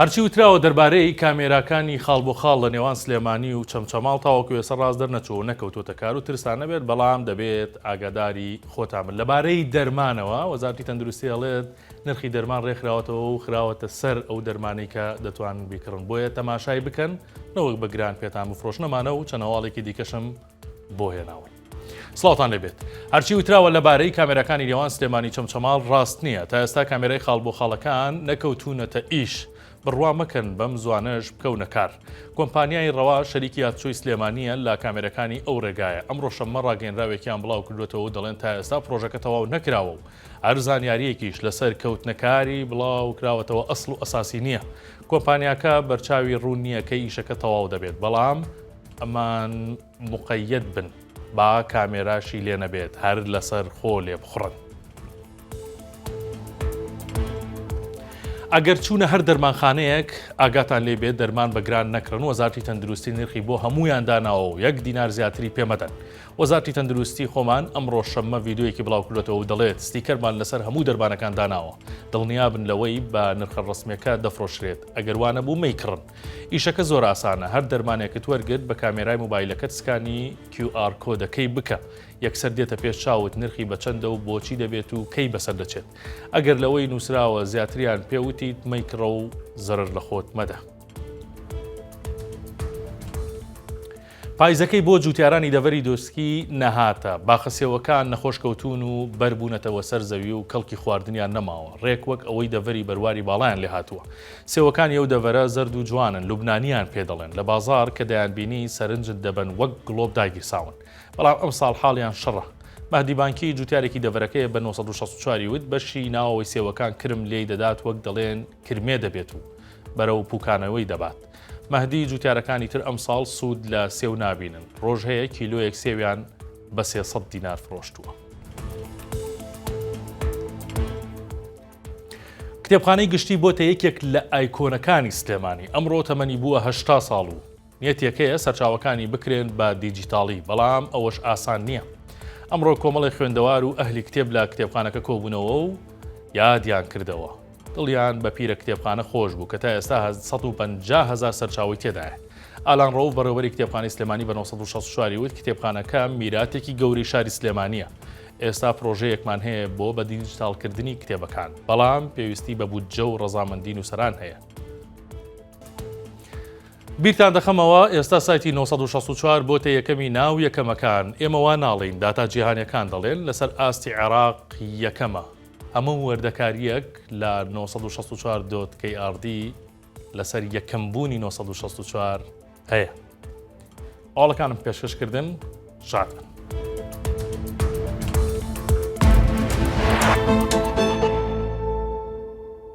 هەرچی وتراوە دەربارەی کامێراکانی خاڵ بۆ خاڵ لە نێوان سلێمانی و چەمچەماڵ تاوەکو ئێسە ڕاست دەرنەچوو نەکەوتۆتە کار و ترسان نەبێت بەڵام دەبێت ئاگاداری خۆتامن لەبارەی دەرمانەوە وەزارتی تەندروستی ئەڵێت نرخی دەرمان ڕێکخراوەتەوە و خراوەتە سەر ئەو دەرمانی کە دەتوان بیکڕن بۆیە تەماشای بکەن نەوەک بە گران پێتان بفرۆشنەمانە و چەنەواڵێکی دیکەشم بۆ هێناون. سڵاوتان لێبێت هەرچی وتراوە لەبارەی کامێراکانی لێوان سلێمانی چەمچەماڵ ڕاست نییە تا ئێستا کامێرای خاڵ بۆ خاڵەکان نەکەوتونەتە ئیش بڕوا مەکەن بەم زوانەش بکەونە کار کۆمپانیای ڕەوا شەریکی یادچۆی سلێمانیە لە کامێرەکانی ئەو ڕێگایە ئەم ڕۆشەممە ڕاگەنراوێکیان بڵاو کردوێتەوە دەڵێن تا ئێستا پرۆژەکە تەواو نەکراوە و هەر زانیاریەکیش لەسەر کەوتنەکاری بڵاو کراوەتەوە ئەسڵ و ئەساسی نییە کۆمپانیاکە بەرچاوی ڕوون نییە کە ئیشەکە تەواو دەبێت بەڵام ئەمان مقەیەد بن با کامێراشی لێ نەبێت هەر لەسەر خۆ لێ بخڕن. ئەگەر چوونە هەر دەرمانخانەیەک ئاگاتان لێ بێت دەرمان بە گران نەکڕن وەزارتی تەندروستی نرخی بۆ هەمویان داناوە و یەک دینار زیاتری پێمەدەن وەزارتی تەندروستی خۆمان ئەمڕۆ شەممە ڤیددیویەکی بڵاوکردێتەوە و دەڵێت ستیکەرمان لەسەر هەموو دەربانەکان داناوە دڵنیابن لەوەی بە نرخە ڕسمەکە دەفرۆشرێت ئەگەر وانە بوو مەیکڕن ئیشەکە زۆر ئاسانە هەر دەرمانێکت وەرگرت بە کامێرای موبایلەکەت سکانی کیو ئار کۆدەکەی بکە یەکسەر دێتە پێش چاوت نرخی بە چەندە و بۆچی دەبێت و کەی بەسەر دەچێت ئەگەر لەوەی نووسراوە زیاتریان پێ وتیت مەیکڕە و زەرەر لە خۆت مەدە. پایزەکەی بۆ جووتیارانی دەڤەری دۆسکی نەهاتە، باخە سێوەکان نەخۆش کەوتوون و بەر بوونەتەوە سەر زەوی و کەڵکی خواردنیان نەماوە، ڕێک وەک ئەوەی دەڤەری بەرواری باڵایان لێ هاتووە. سێوەکانی ئەو دەڤەرە زەرد و جوانن، لوبنانییان پێ دەڵێن، لە بازاڕ کە دەیانبینی سەرنجت دەبەن وەک گڵۆپ داگیرساون. بەڵام ئەمساڵ حاڵیان شڕە. مەهدی بانکی، جووتیارێکی دەڤەرەکەیە بە نۆ سەد و شەست و چوار ی وت، بەشی ناوەوەی سێوەکان کرم لێی دەدات وەک دەڵێن، کرمێ دەبێت و بەرەو پوکانەوەی دەبات. مەهدی جوتیارەکانی تر ئەمساڵ سوود لە سێو نابینن، ڕۆژ هەیە کیلۆیەک سێویان بە سێ سەد دینار فرۆشتووە. کتێبخانەی گشتی بۆتە یەکێک لە ئایکۆنەکانی سلێمانی، ئەمڕۆ تەمەنی بووە هەشتا ساڵ و نیەت یەکەیە سەرچاوەکانی بکرێن بە دیجیتاڵی، بەڵام ئەوەش ئاسان نییە. ئەمڕۆ کۆمەڵێ خوێندەوار و ئەهلی کتێب لە کتێبخانەکە کۆبوونەوە و یادیان کردەوە. دڵیان بە پیرە کتێبخانە خۆش بوو کە تا ئێستا سەد و پەنجا هەزار سەرچاوەی تێدایە. ئالان ڕەوف بەڕێوەبەری کتێبخانەی سلێمانی بە نۆ سەد و شەست و چوار ی وت کتێبخانەکە میراتێکی گەورەی شاری سلێمانییە. ئێستا پرۆژەیەکمان هەیە بۆ بە دیجیتاڵکردنی کتێبەکان، بەڵام پێویستی بە بودجە و ڕەزامەندی نووسەران هەیە. بیرتان دەخەمەوە ئێستا سایتی نۆ سەد و شەست و چوار بۆتە یەکەمی ناو یەکەمەکان ئێمە وا ناڵێین داتا جیهانیەکان دەڵێن لەسەر ئاستی عێراق یەکەمە هەموو وەردەکاریەک لە نۆ سەد و شەست و چوار دۆت کەی ئاڕدی لەسەر یەکەم بوونی نۆ سەد و شەست و چوار هەیە ئاڵەکانم پێشکەش کردن شاد بن